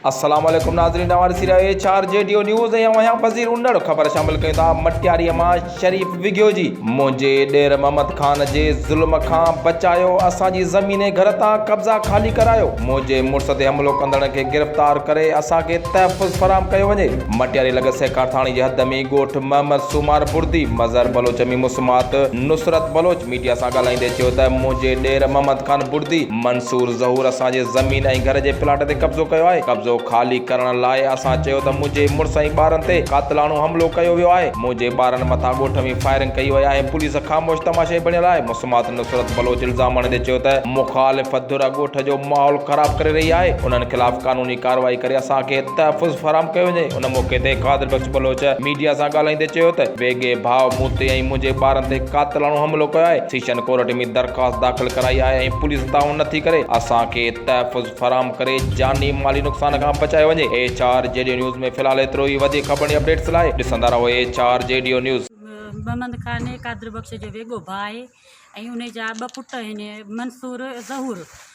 السلام عليڪم ناظرين اوهان ڏسي رهيا ايڇ آر جي ڊيو نيوز ۽ اوهان پذير انڙ خبر شامل ڪيون ٿا مٽياري مان شريف وگهيو جي منهنجي ڏير محمد خان جي ظلم کان بچايو اسان جي زمين ۽ گهر تان قبضا خالي ڪرايو منهنجي مڙس تي حملو ڪندڙن کي گرفتار ڪري اسان کي تحفظ فراهم ڪيو وڃي مٽياري لڳ سهڪارٿاڻي جي حد ۾ ئي ڳوٺ محمد سومار بڙدي مظهر بلوچ ۾ مسمات نصرت بلوچ ميڊيا سان ڳالهائيندي چيو ته منهنجي ڏير محمد خان بڙدي منصور ظهور اسان جي زمين ۽ گهر جي پلاٽ تي قبضو ڪيو آهي، قبضو خالي ڪرڻ لاء اسان چيو ته منهنجي مڙس ۽ ٻارن تي قاتلاڻو حملو ڪيو ويو آهي، منهنجي ٻارن مٿان ڳوٺ ۾ فائرنگ ڪئي وئي آهي، پوليس خاموش تماشائي بڻيل آهي، مسمات نصرت بلوچ الزام هڻيندي چيو ته مخالف ڌر ڳوٺ جو ماحول خراب ڪري رهي آهي، انهن خلاف قانوني ڪارروائي ڪري اسان کي تحفظ فراهم ڪيو وڃي. ان موقعي تي قادر بخش بلوچ ميڊيا سان ڳالهائيندي چيو ته ويڳي ڀاء مون تي ۽ منهنجي ٻارن تي قاتلاڻو حملو ڪيو آهي، سيشن ڪورٽ ۾ درخواست داخل ڪرائي آهي ۽ پوليس تعاون نٿي ڪري، اسان کي تحفظ فراهم ڪري جاني مالي نقصان کان بچايو وڃي، ايڇ آر جيڊيو نيوز ۾ في الحال ايترو ئي، وڌيڪ خبرن ۽ اپڊيٽس لاء ڏسندا رهو ايڇ آر جيڊيو نيوز. محمد خان قادر بخش جو ويڳو ڀاء آهي ۽ ان جا ٻه پٽ آهن منصور ۽ ظهور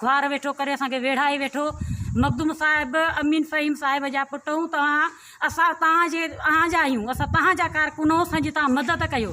خوار ويٺو ڪري اسان کي ويڙهائي ويٺو مخدوم صاحب امين فهيم صاحب جا پٽ آهيون توهان اسان توهان جي اوهان جا آهيون اسان توهان جا ڪارڪن آهيون اسان جي توهان مدد ڪيو.